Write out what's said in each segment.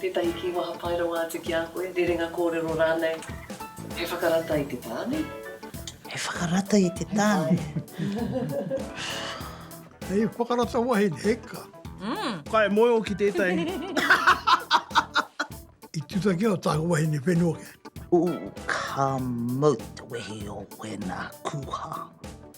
Tētahi kīwaha pai rawa atu ki a koe, rerenga kōrero rānei, he whakarata i te tāne? He whakarata i te tāne? Hei whakarata wahine, eka. Mm. Ka e moe o ki tētahi. I tuta ki au tāku wahine whenua ke. Ooh, ka mau te wehi o wēnā kūha.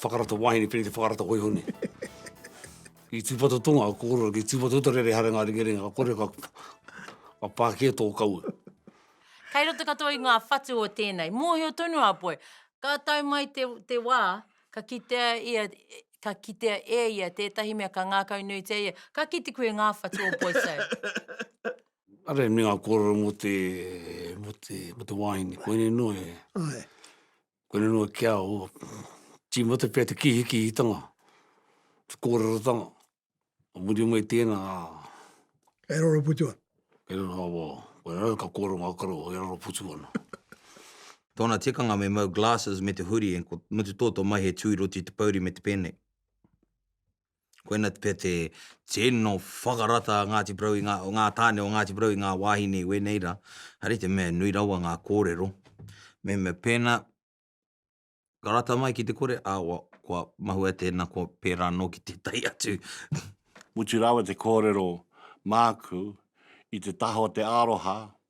Whakarata wahine, pēnei te whakarata hoihone. I tūpata tonga, ka kōrero, ki tūpata uta rere hare ngā ringaringa, ka kore, ka, ka pākia tō kaua. Kei roto katoa i ngā whatu o tēnei. Mōhio tonu a Poi, ka tae mai te, te wā, ka kitea ia, ka kitea e ia tētahi mea ka ngākau nuitia ia, ka kite koe ngā whatu o Poisau. Are me ngā kōrero mō te, mō te, mō te wāhine, koinei noa e. Ae. Ko riro a kia o tīmata pea te kīhikihitanga, te kōrerotanga, o muri o mai tēnā a... Kei raro putu ana. Kei raro ana, wā. Koe rau ka kōrero ngā karo, kei raro putu ana. Tōna tikanga me mau glasses me te huri and ko Mutu Tō tō mai he tū i roto i te pouri me te pēnei. Koina pea te tino whakarata a Ngāti Porou, o ngā tāne o Ngāti Porou i ngā wāhine i wēnei rā, haere te mea nui rawa ngā kōrero. Mehemea pēnā ka rata mai ki te kore, awa, kua mahue tēnā, kua pērā anō ki tētahi atu. Mutu rawa te kōrero māku i te taha o te aroha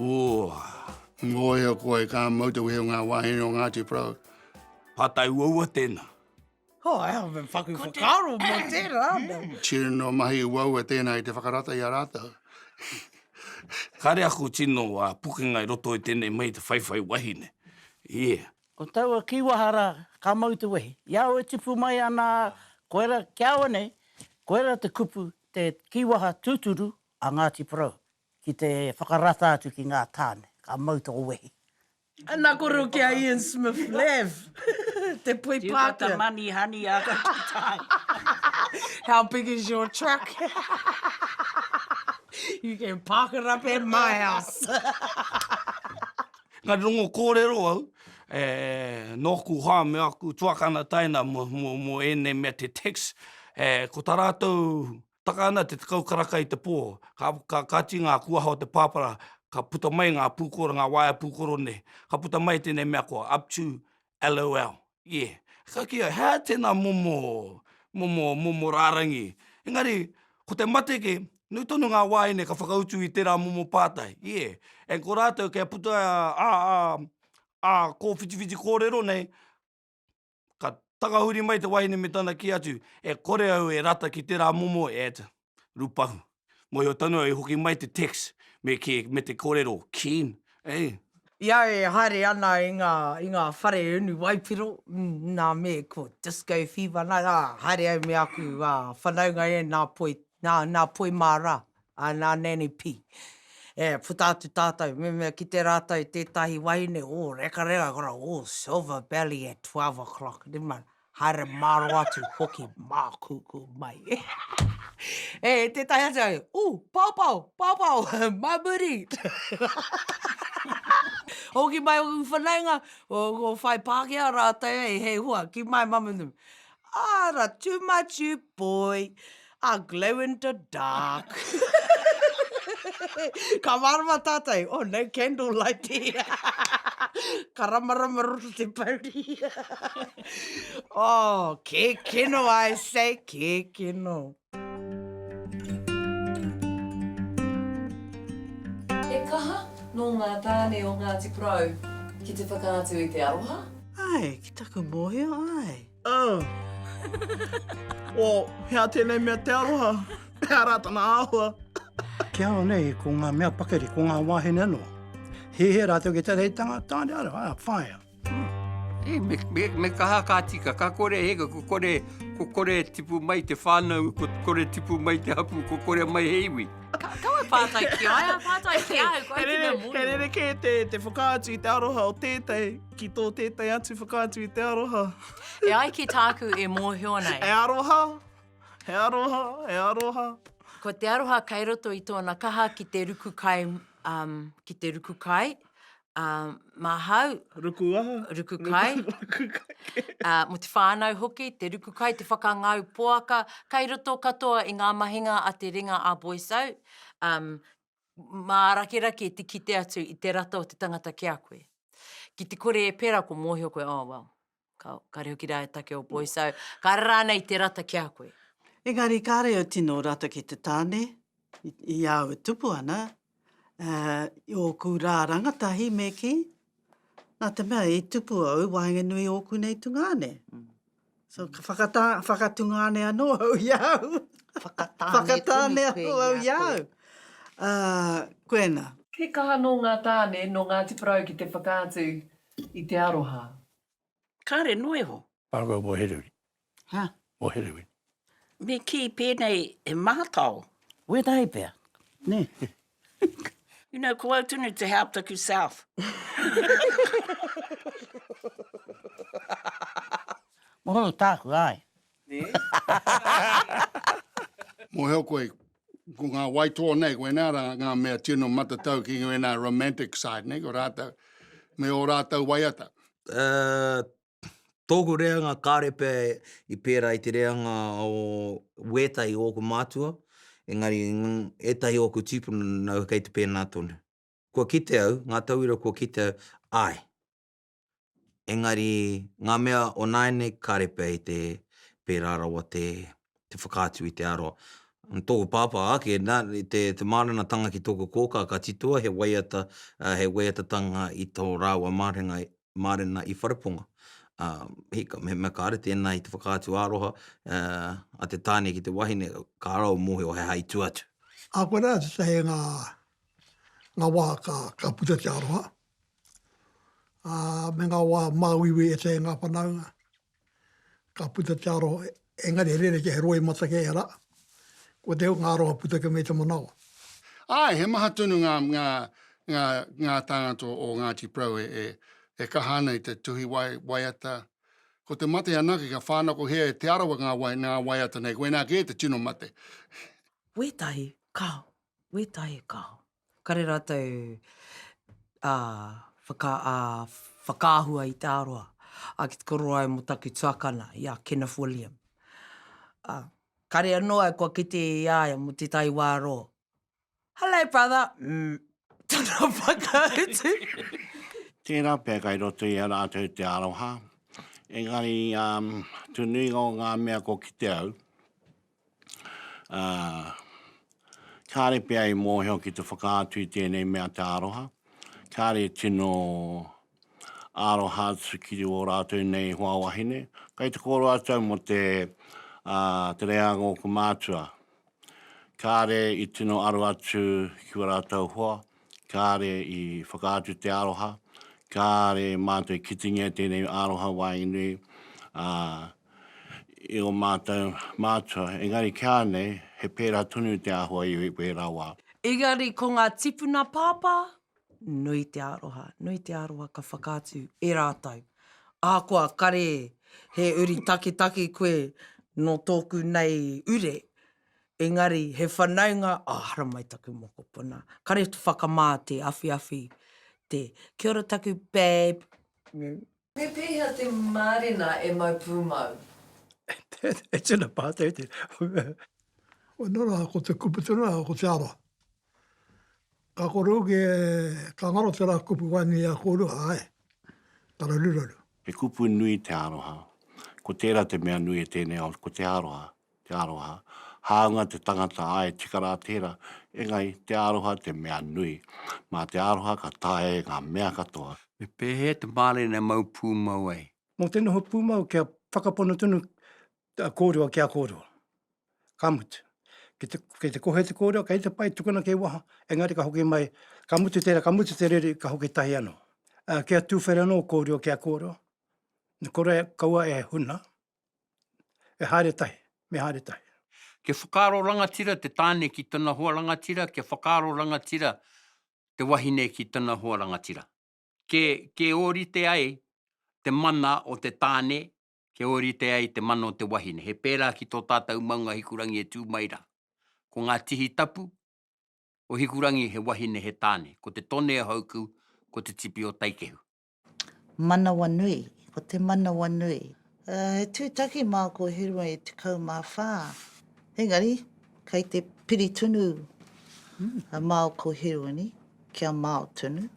Ooh! Ngoiho koa e ka mautohia nga wahine o Ngati Porou. Patai uaua tena. Oh, e hau me whaku whakaro mo tera ana. Tino mahi uaua tena i te whakarata i a ratou. Kare aku tino pukenga i roto i tenei mahi te whaiwhai wahine. Yeah. Ko taua kiwaha ra ka mautowehi. I au e tipu mai ana koe ra kia au anei, koe ra te kupu te kiwaha tuturu a Ngati Porou. Ki te whakarata atu ki ngā tāne, ka mau tō wehi. Ana koro ki a Ian Smith Lev, te poi You've got the money honey I got the time. How big is your truck? You can park it up at my house. Engari rongo kōrero au e nōku hoa me aku tuakana taina mō ēnei mea te tax, ko tā rātou Taka ana te tekau karaka i te pō, ka, ka, ka ati ngā kuaha o te pāpara, ka puta mai ngā pūkoro, ngā waea pūkoro nei. Ka puta mai tēnei mea ko up to LOL. Ie. Ka kīia, he aha tēnā momo, momo, momo rārangi? Engari, ko te mate kē, nui tonu ngā wā ine ka whakautu i tērā momo pātai. Ie. And ko rātou kia puta ā, ā, ā, ā kōwhitiwhiti kōrero nei, ka takahuri mai te wahine me tana kī atu, E kore au e rata ki tērā momo ad, rupahu. Mōhio tonu au i hoki mai te text me kī, me te kōrero, keen, eh? I a au e haere ana i ngā, i ngā whare unu waipiro, nā me ko Disco Fever nā, ā, haere au me aku whanaunga e, nā Poi, nā, nā Poi mā rā, Ā, nā Nanny Pī. E puta atu tātou, mehemea kite rātou tētahi wahine, ō, rekareka kora, ō, silver belly at twelve o'clock, never mind, haere māro atu hoki mākūkū mai. E tētahi atu au, ū, pāpao, pāpao, mā muri! Hoki mai ōku whanaunga, ko Whai Pākehā rātou, hei hua, ki māi mamanumu. Ara, too much you boy, are glow in the dark. Ka mārama tātou, oh no candle light here. Ka ramarama roto te pouri. Oh, kēkeno I say, kēkeno. He kaha nō ngā tāne o Ngāti Porou ki te whakaatu i te aroha. Āe, ki taku mōhio, āe. Oh. Oh, hea tēnei mea te aroha? Pehea rā tana āhua? Te ao nei, ko ngā mea pakari, ko ngā wāhine anō. He hē rātou ki te reitanga, tāne aroha, āe, whāia. He me kaha ka tika, ka kore he iwi, ko kore e tipu mai te whānau, ko kore e tipu mai te hapū, ko kore mai he iwi. Kaua pātai ki a ia, pātai ki a au, koia te mea mōhio. He rerekē te whakaatu i te aroha o tētahi ki tō tētahi atu whakaatu i te aroha. E ai ki tāku e mōhio nei. He aroha, he aroha, he aroha. Ko te aroha kei roto i tōna kaha ki te ruku kai, ki te ruku kai, ā, māhau. Ruku aha? Ruku kai. Ruku kai kē. Ā, mō te whānau hoki, te ruku kai, te whakangau poaka, kai roto katoa i ngā mahinga a te ringa a Boys Out, um, mārakerake te kite atu i te rata o te tangata ki a koe. Ki te kore e pērā, kua mōhio koe, oh, well, Ka, kare hoki rā e take o Poiso, Ka rara ana i te rata ki a koe. Engari kāre au tino rata ki te tāne, i, i a au e tupu ana, ā, i ōku rā rangatahi me kī, nā te mea i tupu au, waenganui i ōku nei tungāne. So, ka whakatā, whakatungāne anō au i a au. Whakatāne Whakatāne tonu koe anō au i a koe. au. Ā, koena. He kaha nō ngā tāne, nō Ngāti Porou ki te whakaatu. I te aroha. Kare noa iho. Ago mo Herewin. Ha? Mo Herewin. Me ki penei he mahatao. Wetahi pea. Ne. You know, ko au tonu te hea taku south. Mo taku, ae. Ne. Mohio koe, ko ngā waitoa nei, ko ēnā rā ngā mea tino matatau ki ēnā romantic side nei, ko rātou, me o rātou waiata. Uh, tōku reanga kāre pea i pērā i te reanga o wētahi o ōku mātua, engari ētahi o ōku tīpuna nāu kei te pēnā tonu. Kua kite au, ngā tauira kua kite au, āe. Engari, ngā mea o nāianei ka repe ai te pērā rawa te whakaatu i te aroha. Tōku pāpā ake, te mārenatanga ki tōku kōkā ka titoa he waiata, he waiatatanga i tō rāua marenga, mārena i Whareponga. Hika, mehemea kāre tēnā i te whakaatu aroha a te tāne ki te wahine, ka raro mōhio he hai tū atu. Ahakoa rā tētahi o ngā wā ka puta te aroha, ā, me ngā wā māuiui e tē ngā whanaunga, ka puta te aroha, engari he rerekē, he roimata kē rā, ko te ngā aroha puta ki me te manawa. Āe, he maha tonu ngā, ngā, ngā, ngā tāngata o, o Ngāti Porou e, e, e kaha ana i te tuhi wai, waiata. Ko te mate anake, ka whānakohia e Te Arawa ngā wai, ngā waiata nei, koinā kē te tino mate. Wētahi, kāo, wētahi kāo. Kare rātou ā, whaka, ā, whakaahua i te aroha. Ā, ki te koro ai mō taku tuakana, i a Kenneth William. Ā, kare anō au kua kite i a ia mō te tai wā rō, Hello, brother! Umm, tana whakautu. Tērā pea kai roto i a rātou te aroha, engari, ā, te nuinga o ngā mea kua kite au, ā, kāre pea i mōhio ki te whakaatu i tēnei mea te aroha, kāre e tino aroha atu ki ō rātou nei hoa wahine. Kei te kōrua tau mō te, ā, te reanga o ōku mātua, kāre i tino aro atu ki ō rātou hoa, kāre i whakaatu te aroha, kāre mātou i kitingia tēnei aroha waenui ā, i o mātou mātua, engari ki a nei, he pērā tonu te āhua i wērā wā. Engari ko ngā tipuna pāpā, nui te aroha, nui te aroha ka whakaatu e rātou. Ahakoa kare he uri taketake koe nō tōku nei ure, Engari, he whanaunga, oh, haramai taku mokopuna. Kare te whakamā, te awhiawhi, te, Kia ora taku bab. Me pēhea te mārena e mau pūmau? E tino pātai tēnei. Nō reira, ko te kupu tonu rā, ko te ara. Ka kore hoki e, ka ngaro te rā kupu wai nei i a kōrua, āe. Tararuraru. He kupu nui te aroha. Ko tērā te mea nui e tēnei ao, ko te aroha. Te aroha. Hāunga te tangata āe tika rā tērā, engari te aroha te mea nui. Mā te aroha ka taea e ngā mea katoa. Me pēhea te mārena e mau pūmau ai? Mō te noho pūmau kia whakapono tonu te kōrero ki a kōrero. Ka mutu, kei te kohe te kōrero, kei te pai, tukuna kei waha, engari ka hoki mai, ka mutu tērā, ka mutu te riri, ka hoki tahi anō. Kia tuwhera anō kōrero ki a kōrero, kaua e huna, e haere tahi, me haere tahi. Kia whakaaro rangatira te tāne ki tana hoa rangatira, kia whakaaro rangatira te wahine ki tana hoa rangatira. Ke, ke ōrite ai te mana o te tāne, ke ōrite ai te mana o te wahine. He pērā ki tō tātou maunga Hikurangi e tū mai rā. Ko ngā tihi tapu o Hikurangi he wahine, he tāne. Ko te tone o Hauku, ko te tipi o Taikehu. Manawanui, ko te manawanui. He tūtaki mā ko Herua e 14, engari kei te piri tonu a Mao ko Heruani kia Mao tonu.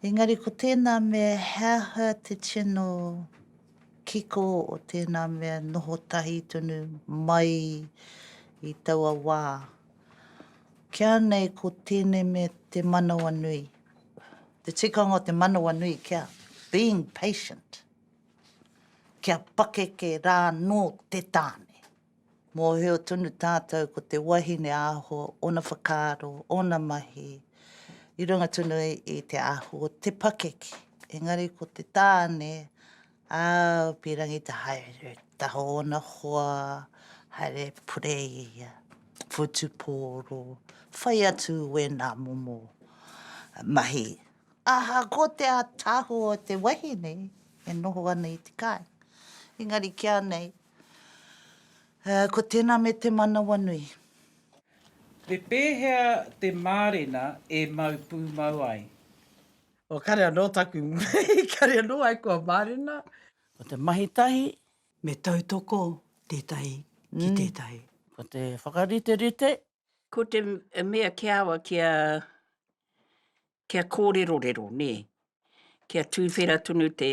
Engari ko tēnā mea he aha te tino kiko o tēnā mea noho tahi tonu mai i taua wā. Kia nei ko tēnei mea te manawanui. Te tikanga o te manawanui kia being patient, kia pakeke rānō te tāne. Mōhio tonu tātou ko te wahine aho, ōna whakaaro, ōna mahi, i runga tonu i te aho, te pakeke. Engari ko te tāne, Ā, pīrangi te haere taha o ōna hoa, haere pureia, whutupōro, whai atu wēnā momo mahi. Ahakoa te ātaahua o te wahine e noho ana i te kāinga, engari ki a nei, ko tēnā me te manawanui. Me pēhea te mārena e mau pūmau ai? O kare anō taku mahi, kare anō ai kua mārena. Ko te mahi tahi. Me tautoko tētahi ki tētahi. Ko te whakariterite. Ko te mea kia awa kia, kia kōrerorero, nē. Kia tūwhera tonu te,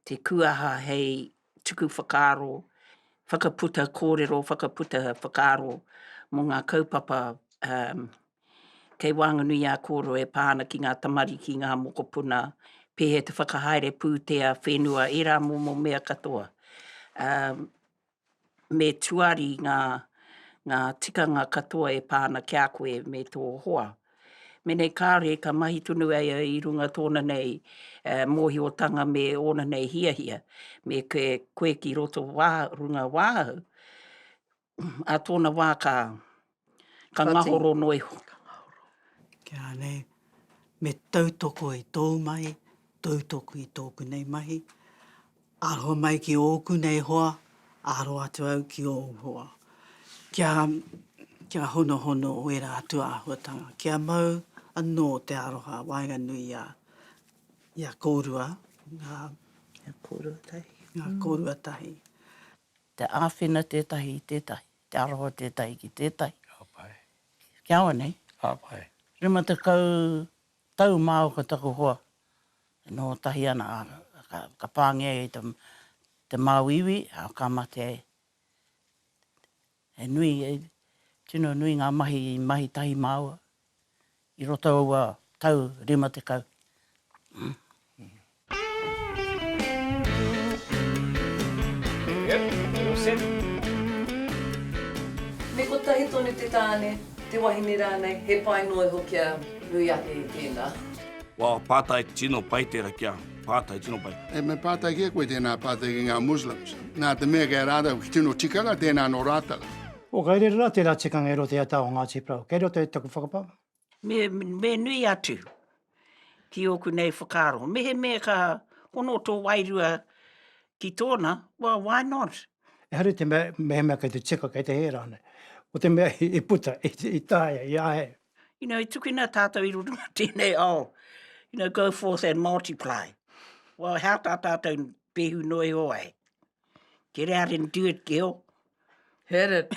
te kuaha hei tuku whakaaro, whakaputa kōrero, whakaputa whakaaro mō ngā kaupapa, Kei waenganui a Koro e pā ana ki ngā tamariki, ngā mokopuna, pēhea te whakahaere pūtea, whenua, ērā momo mea katoa. Me tuari ngā ngā tikanga katoa e pā ana ki a koe me tō hoa. Menei kāore ka mahi tonu ai a i runga tōna nei mōhiotanga me ōna nei hiahia, me koe ki roto runga wāhau, ā tōna wā ka, ka ngahoro noa iho. Ka ngahoro. Kia nei, me tautoko i tōu mahi, tautoko i tōku nei mahi, aroha mai ki ōku nei hoa, aro atu au ki ōu hoa. Kia, kia honohono ērā atu āhuatanga, kia mau anō te aroha waenganui i a, i a kōrua ngā, ngā kōrua tahi. Te āwhina tētahi i tētahi, te aroha tētahi ki tētahi. Ka pai. Kia ora nei. Ka pai. Rima tekau tau māu ko taku hoa e noho tahi ana, ā, ka pāngia ia i te, te māu iwi, ā, ka mate ai. He nui, tino nui ngā mahi i mahi tahi māua, i roto aua tau rima tekau. Me kotahi tonu te tāne, te wahine rānei, he pai noa iho kia nui ake i tēnā. Wow, pātai tino pai tērā kia pātai tino pai. E, me pātai ki a koe tēnā pātai ki ngā Muslims. Nā te mea kei a rātou tino tikanga tēnā nō rātou. O kei reira rā tērā tikanga e roto i a Tao Ngāti Porou. Kei roto i taku whakapa. Me, me nui atu ki oku nei whakaaro. Mehemea ka hono tō wairua ki tōna, well, why not? Ehara i te mea, mehemea kei te tika, kei te hē rānei. Ko te mea i puta, i, i taea, i āhei. You know, i tukuna tātou i roto mō tēnei ao, you know, go forth and multiply. Well, how tā tātou pēhu noa iho ai? Get out and do it, girl. Hit it.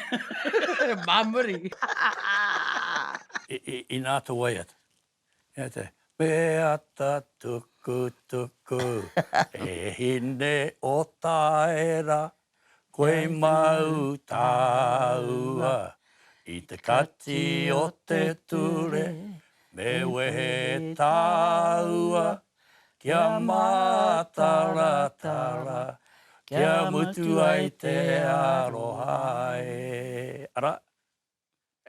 Mā muri. Inā atu waiata. Inā te. Waiata tuku tuku. E hine o Taera. Koe mau tāua. I te kati o te ture. Me wehe tāua. Kia mātaratara, kia mutu ai te aroha e. Arā,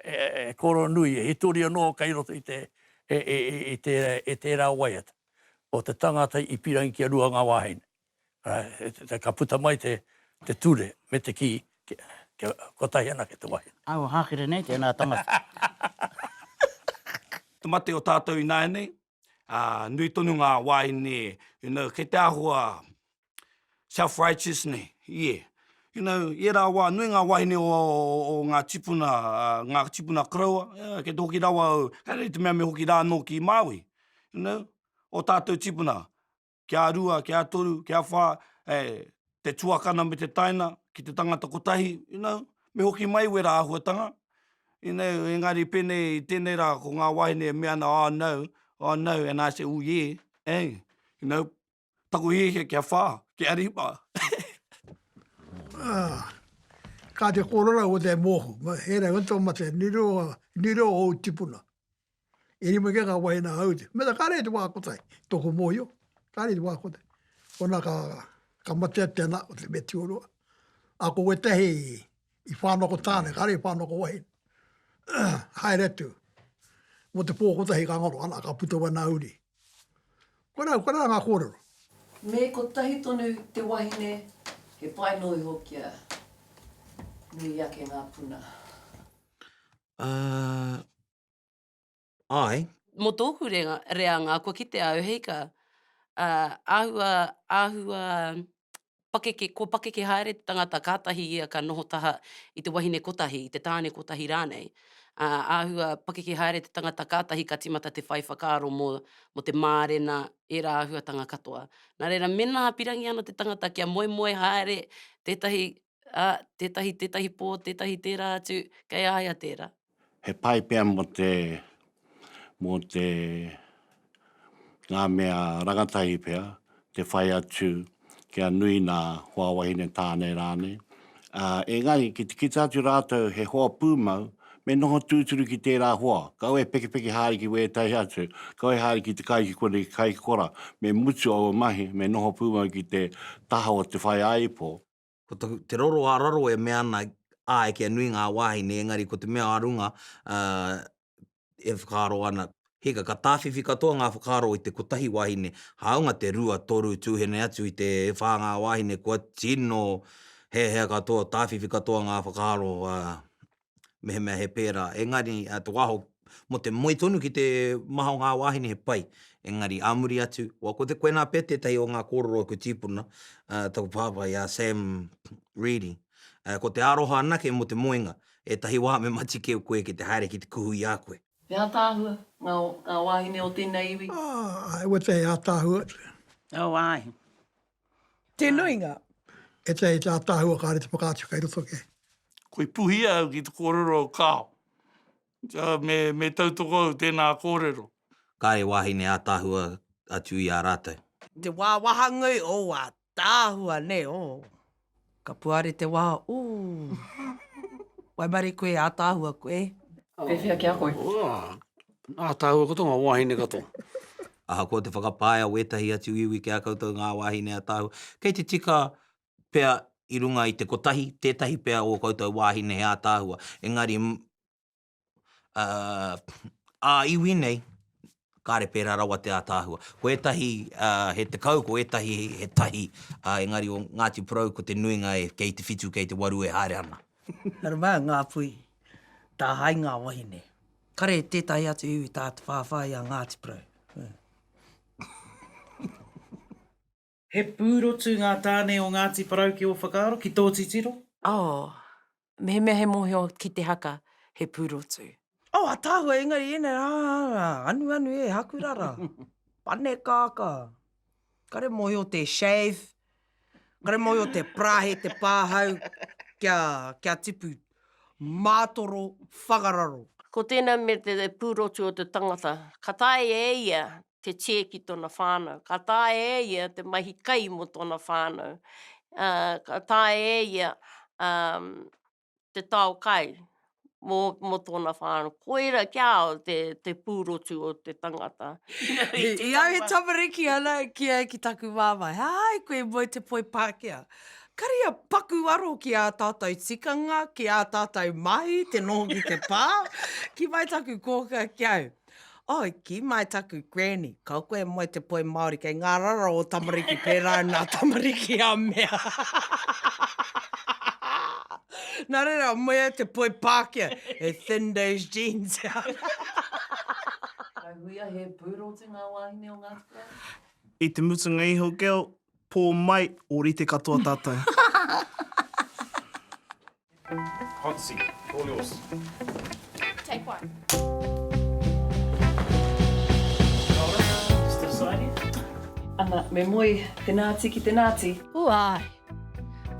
e Koronui, e hitori anō kei roto i te, i tērā waiata, o te tangata i pīrangi ki a Rua ngā wāhine. Arā, ka puta mai te, te ture me te kī, kia, kotahi anake te wāhine. Ā, kua hākere nei tēnā tangata. Te mate o tātou ināianei, ā, nui tonu ngā wāhine, you know, kei te āhua self-righteous nei, ie. You know, i ērā wā, nui ngā wāhine o, o ngā tīpuna, ā, ngā tīpuna koroua, ā, kei te hoki rawa au, kei rēti mea me hoki rā anō ki Māui, you know, ō tātou tīpuna, kia rua, kia toru, kia wha, e, te tuakana me te taina, ki te tangata kotahi, you know, me hoki mai wera ahuatanga, you know, engari penei, i tenei ra, ko nga wahine e mea ana, oh no, oh no, and I say, oh yeah, eh, you know, taku hiahia kia wha, kia rima. Ah, ka te korero o te moho, he rau atu o mate, ni reo, ni reo o ou tipuna. E rima kē ngā wāhi nā Aute. Me tā kāre i te wā kotahi, tōku mōhio, kāre i te wā kotahi. Kona ka, ka matea tēnā o te mea tioroa. A ko wētahi i whānoko tāne, kāre i whānoko wahi. Haere atu. Mo te pō kotahi ka ngaro, ana, ka puta wai nā uri. Kona, kona ngā kōrero. Me kotahi tonu te wahine, he pai noa iho kia nui ake ngā puna. Āe. Mō tōku reanga, kua kite au, hei ka, āhua, āhua, pakeke, kua pakeke haere te tangata, kātahi ia ka noho taha i te wahine kotahi, i te tāne kotahi rānei. Āhua pakeke haere te tangata, kātahi ka tīmata te whai whakaaro mō, mō te mārena, ērā āhuatanga katoa. Nā reira, mēnā pīrangi ana te tangata kia moemoe haere tētahi ā, tētahi, tētahi pō, tētahi tērā atu, kei a ia tērā. He pai pea mō te, mō te, ngā mea rangatahi pea, te whai atu kia nui nā hoa wahine tāne rānei. Ā, engari, ki te kite atu rātou he hoa pūmau, me noho tūturu ki tērā hoa, kau e pekepeke haere ki wētahi atu, kau e haere ki te kai, ki konei, ki kai, ki kora, me mutu aua mahi, me noho pūmau ki te taha o te whaiāipo. ko taku, te roro a raro e mea ana, ae kia nui nga wahine engari ko te mea a runga e whakaaro ana, hika ka tawhiwhi katoa nga whakaaro i te kotahi wahine, haunga te rua, toru, tuhene atu i te e wha nga wahine kua tino hehea katoa, tawhiwhi katoa nga whakaaro, mehemea he pērā. Engari, te wā aho, mō te moe tonu ki te maha o ngā wāhine he pai. Engari, ā muri atu, wā, ko te koenā pea tētahi o ngā kōrero o ku tīpuna, taku pāpā, i a Sam Reedy, ko te aroha anake mō te moenga, ētahi wā me mati keu koe ki te haere ki te kuhu i a koe. He ātaahua ngā, ngā wāhine o tēnei iwi? Ā, he ātaahua. Ō, āe. Te nuinga. E te te ataahua kare te whakaatu kei roto ke. Ko i puhia au ki te korero o Kao. Me, me tautoko au tena korero. Kare wahine ataahua atu i a ratou. Te wawahangui o a taahua ne, o. Ka puare te wā, ooh. Waimarie koe e ātaahua koe. Pēwhea ki a koe? Ooh, ātaahua katoa ngā wāhine katoa. Ahakoa te whakapae a wētahi atu iwi ki a koutou ngā wāhine ātaahua, kei te tika pea i runga i te kotahi tētahi pea o ō koutou wāhine he ātaahua, engari ā-iwi nei, kāre pērā rawa te ātaahua. Ko ētahi he tekau, ko ētahi he tahi, engari o Ngāti Porou ko te nuinga kei te whitu, kei te waru e haere ana. Nā runga i ngā pui, tāhae i ngā wahine. Kare tētahi atu iwi tātawhāwhā i a Ngāti Porou. He pūrotu ngā tāne o Ngāti Porou ki ō whakaaro, ki tō titiro? Oh, mehemea he mōhio ki te haka, he pūrotu. Oh, ataahua, engari ēnei rā, anuanu e, hakurara, panekākā. Kare mōhio te shave, kare mōhio te parāhe, te pāhau, kia, kia tipu mātoro whakararo. Ko tēnā me te pūrotu o te tangata, ka taea e ia te chair ki tona whanau. Ka taea e ia te mahi kai mo tona whanau. Ka taea e ia te tao kai mo tona whanau. Koira ki a au te purotu o te tangata. I au he tamariki ana ki au ki taku mamae, hai koe mo te poi Pakea. Kari a paku aro ki a tatou tikanga, ki a tatou mahi, te noho ki te pa. Ki mai taku koka ki au. Oh, ki mai taku granny, kau koe moe te poi Māori kei ngā rara o tamariki pērā i ngā tamariki a mea. Nā reira, moe ai te poi Pākehā, he thin those jeans. Ka huia he pūrotu ngā wāhine o Ngāti Porou? I te mutunga iho, girl, pō mai, ōrite katoa tātou. Hot seat, all yours. Take one. Ana, me moe, tena ati ki te nati. Huai!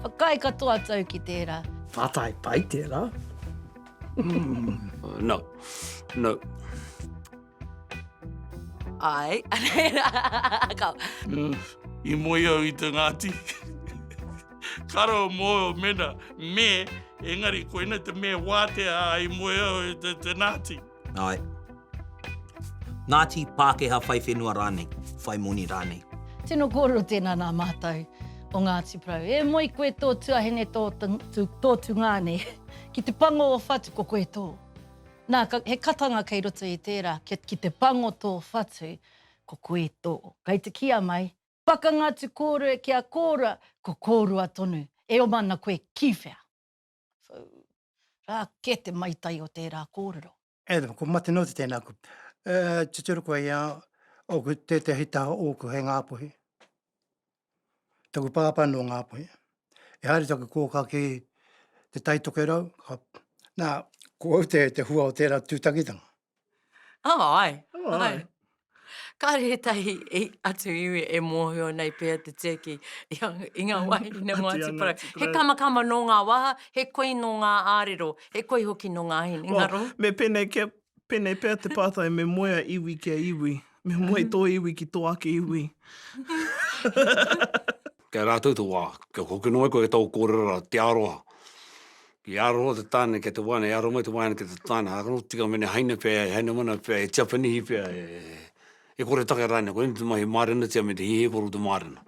Whakaae katoa tau ki tera. Whatae pai tera. No, no. Ai. Ka. I moe au i te Ngāti. Karo mō mena me, engari koina te me wātea a i moe au i te, te Ngāti. Ai. Ngāti, Pākehā whai whenua rānei, whai moni rānei. Tino kōrero tēnā nā mātou o Ngāti Porou. E moe koe tō tuahine, tō, tō tūngāne. Ki te pango o whatu ko koe tō. Nā, he katanga kei roto i tērā, kia, ki te pango tō whatu, ko koe tō. Kei te kīa mai. Pakanga atu kōrue ki a kōrua, ko kōrua tonu. E oma ana koe ki whea? Whū! Rā kē te maitai o tērā kōrero. Adam, ko Matenoti tēnā aku. E, tuturu koe i a, oku, tētehi taha ōku hei ngāpuhi. taku pāpā nō Ngāpuhi, e haere taku kōkā ki te Tai Tokerau, ka, nā, ko au te, te hua o tērā tūtakitanga. Oh, ai, oh, ai. ai. Kāre he tahi i, atu iwi e mōhio nei pēa te tēki i, i ngā wāhine mō atu parau. He kamakama nō ngā waha, he koi nō ngā ārero, he koi hoki nō ngā hine. Oh, me pēnei kia Pēnei pea te pātai, me moe a iwi ki a iwi, me moe tō iwi ki tō ake iwi. Kei a rātou te wā, kia hoki noa koe ki tō kōrero rā, te aroha. I aroha te tāne ki te wāne, i aroha mai te wāne ki te tāne, ā, ka noho tika me ngā haina pea, he haina mana pea, he Tiapanihi pea, e kore take rānei, koinei te mahi mārena tia me te hihiko o te mārena.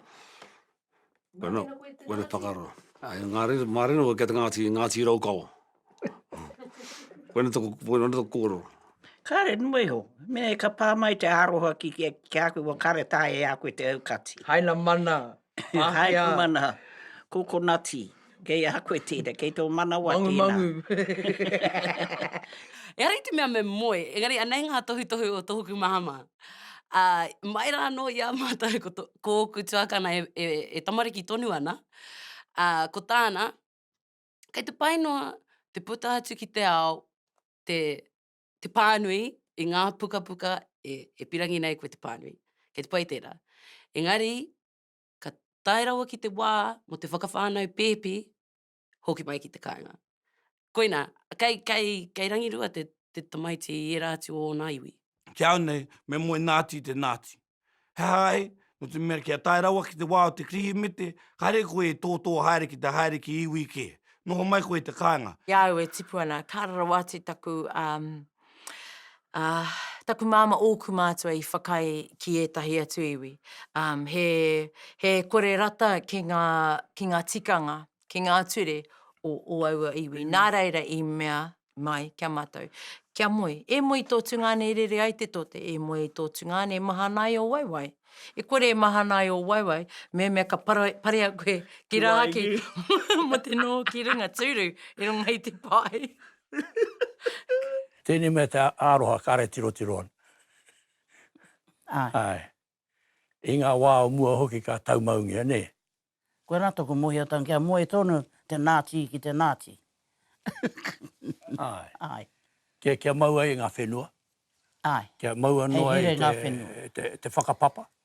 Wena, wena whakaaro. Ai, ngā reira, mā reira koe ki a te Ngāti, Ngāti Raukawa. wena toko, wena toko kōrero. Kāre, nō iho. Me ka pā mai te aroha ki, ki, ki a koe, wa kāre tāia a koe te aukati. Haina mana, Pākehā. Haina mana, kokonati. Kei a koe tēnā, kei tō manawa tēnā. Mangumangu. Ehara i te mea me moe, engari anei ngā tohutohu o tōku mahama. Ā, mai rā anō i a mātou ko tō, ko ōku tuakana e, e, e tamariki tonu ana, ā, ko tāna, kei te pai noa te puta atu ki te ao te, te pānui i ngā pukapuka e, e pirangi nei koe te pānui. Kei te pai tērā. Engari, ka tae rawa ki te wā mō te whakawhānau pēpi, hoki mai ki te kāinga. Koinā, kei, kei, kei rangirua te, te tamaiti i ērā atu o ōna iwi. Ki au nei, me moe nāti i te nāti. He aha ai? Nō te mea kia tae rawa ki te wā o te Kirihimete, kāre koe e tōtō haere ki te haere ki iwi kē. Noho mai koe i te kāinga. Ki a au e tipu ana, ka ara rawa atu taku, um, Ā, taku māmā ōku mātua i whakaae ki ētahi atu iwi, ā, he, he kore rata ki ngā, ki ngā tikanga, ki ngā ture o ō aua iwi. Nā reira i mea mai ki a mātou, Kia moe, e moe i tō tungāne e rere ai te tote, e moe i tō tungāne e mahana ai ō waewae. E kore e mahana ai ō waewae, mehemea ka para, parea koe ki rāhaki mō te noho ki runga tūru i runga i te pae. Tēnei mea te aroha kare tirotiro ana. Ae. I nga wa o mua hoki ka taumaungia, ne? Koena toku mohiatanga kia moe tonu te Nati ki te Nati. Ae. Ae. Kia kia mau ai nga whenua. Ae. Kia maua noa ai te whakapapa.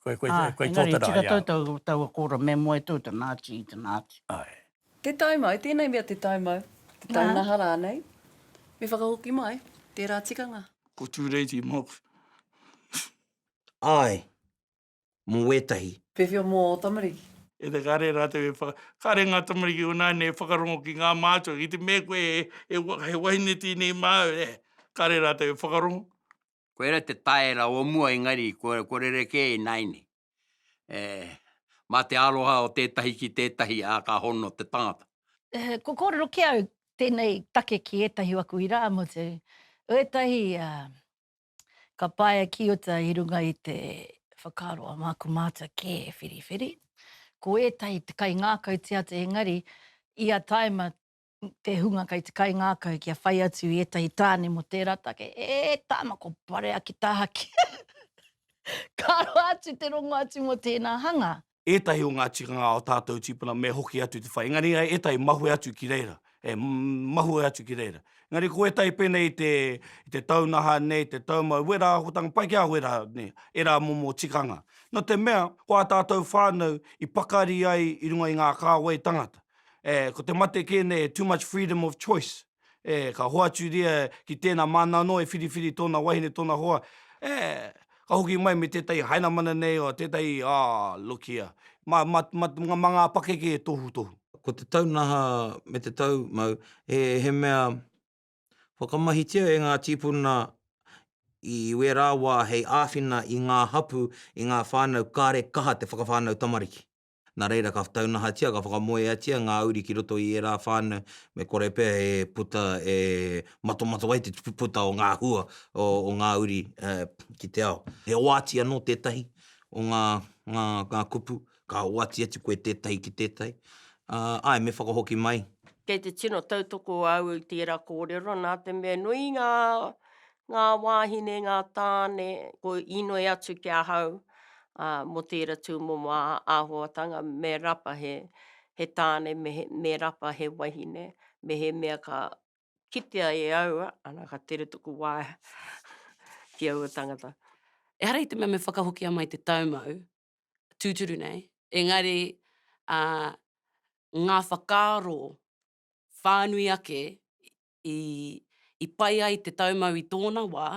Koe, koe, koe, koe tō te rā, ia. Engari, tika tau taua kōrero, me moe tō te Nāti i te Nāti. Ae. Te taumau, tēnei mea te taumau, te taunaha rānei, me whakahoki mai tērā tikanga. Ko Tūreiti Mox. Ae, mō wētahi. Whewhia mō ō tamariki. E te kare rātou e whaka, kare ngā tamariki o nāne e whakarongo ki ngā mātua, ki te mea koe he wahine tēnei māu, eh, kare rātou e whakarongo, koira te taera o mua engari ko rerekē ināianei e mā te aroha o tētahi ki tētahi ā ka hono te tangata. Kua kōrero ki au tēnei take ki ētahi o aku irāmutu, ētahi ka paea ki uta i runga i te whakaaro a māku mātua kē e whiriwhiri, ko ētahi te kaingākau tia atu engari ia taima te hunga kei te kaingākau kia whai atu i ētahi tāne mō tērā take, e tāna ko Barea ki taha ki Ka roa atu te rongo atu mō tēnā hanga. Ētahi o ngā tikanga o tātou tīpuna me hoki atu te whai, engari ētahi mahue atu ki reira, e mahue atu ki reira. Engari ko ētahi pēnei i te, i te taunaha nei, te taumau, wera ahotanga, pai ki a wera nei, ērā momo tikanga. No te mea, ko ā tātou whānau i pakari ai i runga i ngā kāwai tangata, E, ko te mate kē nei e too much freedom of choice. E, ka hoaturia ki tēnā māna anō e whiriwhiri tōna wahine, tōna hoa. E, ka hoki mai me tētahi hainamana nei, oh, tētahi, oh, look here, mā, mā, mā, mā ngā pakeke e tohutohu. Ko te taunaha me te tau mau, he, he mea whakamahitia e ngā tīpuna i wērā wā hei āwhina i ngā hapū, i ngā whānau kāre kaha te whakawhānau tamariki. Nā reira ka taunahatia, ka whakamoeatia ngā uri ki roto i ērā whānau, me kore pea e puta, e matomato ai te puta o ngā hua o ngā uri ki te ao. He oati anō tētahi o ngā kupu, ka oati atu koe tētahi ki tētahi. Āe, me whakahoki mai. Kei te tino tautoko au i tērā kōrero nā te mea nui ngā ngā wāhine, ngā tāne, ko inoi atu ki ahau, ā, mō tēra tūmomo āhuatanga, me rapa he, he tāne, me he, me rapa he wahine, mehemea ka kitea e au, ana, ka tere taku waeha ki aua tangata. Ehara i te mea me whakahokia mai te taumau, tūturu nei, engari, ā, ngā whakaaro whānui ake i pai ai te taumau i tōna wā,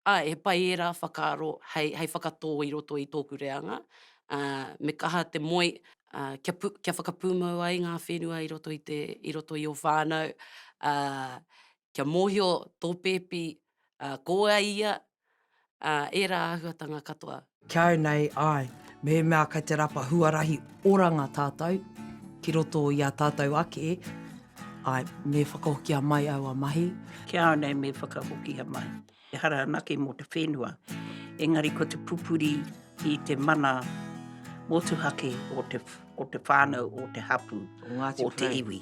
ā, he pai ērā whakaaro hei, hei whakatō i roto i tōku reanga, ā, me kaha te moe, ā, kia pū, kia whakapūmau ai ngā whenua i roto i te, i roto i ō whānau, ā, kia mōhio tō pēpi, ā, ko wai ia, ā, ērā āhuatanga katoa. Ki au nei, āe, mehemea kei te rapa huarahi oranga tātou ki roto i ā tātou ake, āe, me whakahokia mai aua mahi. Ki au nei me whakahokia mai. Ehara anake mō te whenua, engari ko te pupuri i te mana motuhake o te, o te whānau, o te hapū, o te iwi.